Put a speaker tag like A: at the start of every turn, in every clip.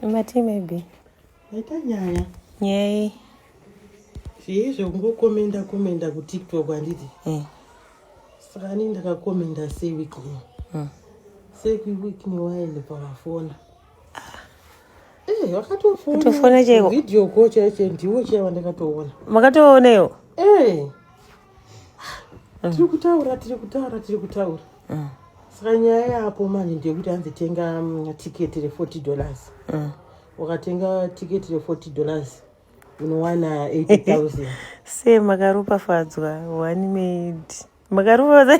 A: Mati maybe. Ita nyaya.
B: Nyaya. Zvii zvekungokomenda komenda kuTikTok handiti? Eh. Saka ani ndakakomenda sei week ino? Mm. Sei week ino waende pavafona? Eh, wakatofona. Kutofona chaiko. Video ko
A: chaicho
B: ndiwo chaiwa ndakatoona. Makatoona iwo?
A: Eh.
B: mm. tiri kutaura tiri kutaura tiri kutaura mm. saka nyaya yapo manje ndeyekuti anzi tenga mm, tiketi re40 dollars mm. wakatenga tiketi re40 dollars unowana 8000 se
A: makaropafadzwa one made makaropafadza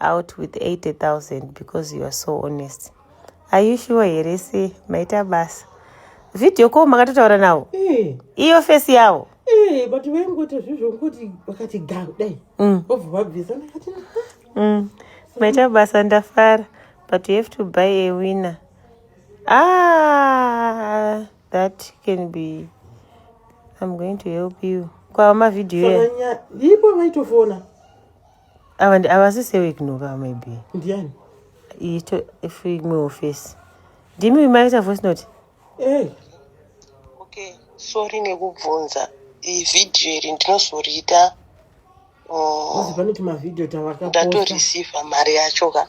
A: out with 80000 because you are so honest are you sure here se maita basa video ko makatotaura navo eh. iyo fesi yavo eh, but vaingoita
B: zvizvo ngokuti vakati ga kudai mm. vobva vabvisa ndakati mm.
A: maita basa ndafara but you have to buy a winner ah that can be i'm going to help you kwava mavhidhiyo ipo
B: vaitofona ava
A: ndi ava sise weknoka maybe ndiani
B: ito
A: if imwe office ndimi imaita voice note hey.
C: okay sorry nekubvunza iyi vhidhiyo iri ndinozoriita
B: oh, ndatorisiva mari
C: yacho ka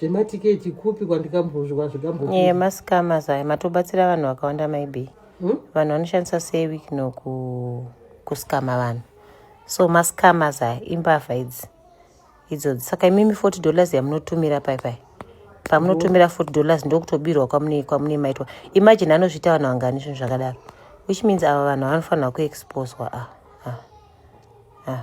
B: zvematiketi kupi kwandikambozvika zvikambo yeah, mascamas aya
A: matobatsira vanhu vakawanda maybe hmm? vanhu vanoshandisa sei wikno kuscama vanhu so mascamas aya imbavha idzi idzodzi saka imimi 40 dollars yamunotumira pai pai pamunotumira 40 dollars ndokutobirwa kwamune kwamune maitwa imagine anozviita vanhu vangani zvinhu zvakadaro which means ava vanhu vanofanirwa kuexposwa ah, ah, ah.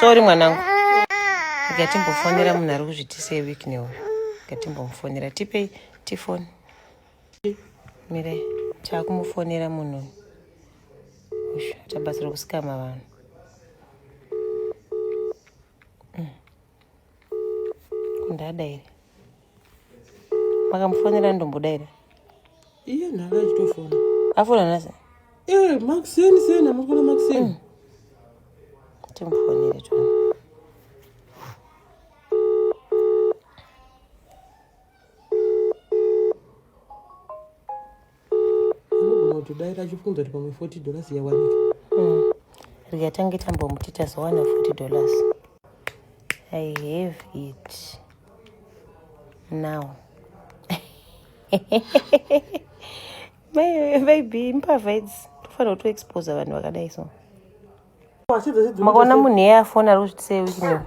A: sorry mwanangu ngatimbofonera munhu ari kuzvitisei week neuyu ngatimbomufonera tipei tifoni mirai taakumufonera munhu uyu tabatsira kusikama vanhu ndada here makamufonera ndomboda here iye
B: nhaka achitofona afona nase
A: ee makuseni
B: seni amakona makuseni mm. timufonere
A: tona
B: unogona kutodaira achifunza kuti pamwe 40 dollars yawanika mm. rega
A: tange tambomuti tazowana 40 dollars i have it now maybe mbavha idzi tofanira kutoexposa vanhu vakadai so makaona munhu iye afona ari kuzvitisei wikino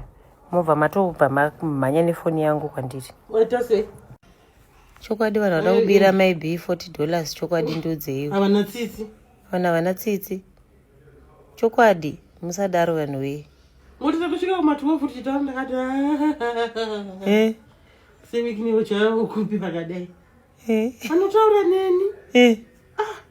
A: mobva matobva manya nefoni yangu kwandiri
B: Chokwadi
A: vanhu vada kubira mai B 40 dollars chokwadi ndiudzeiwo. Havana tsitsi.
B: Vanhu havana tsitsi.
A: Chokwadi musadaro vanhu wee. Motisa kusvika
B: kuma 12 futi chitaura ndakati. Eh. Siviki niwo chavo kupi pakadai. Eh. Anotaura neni. Eh. Ah.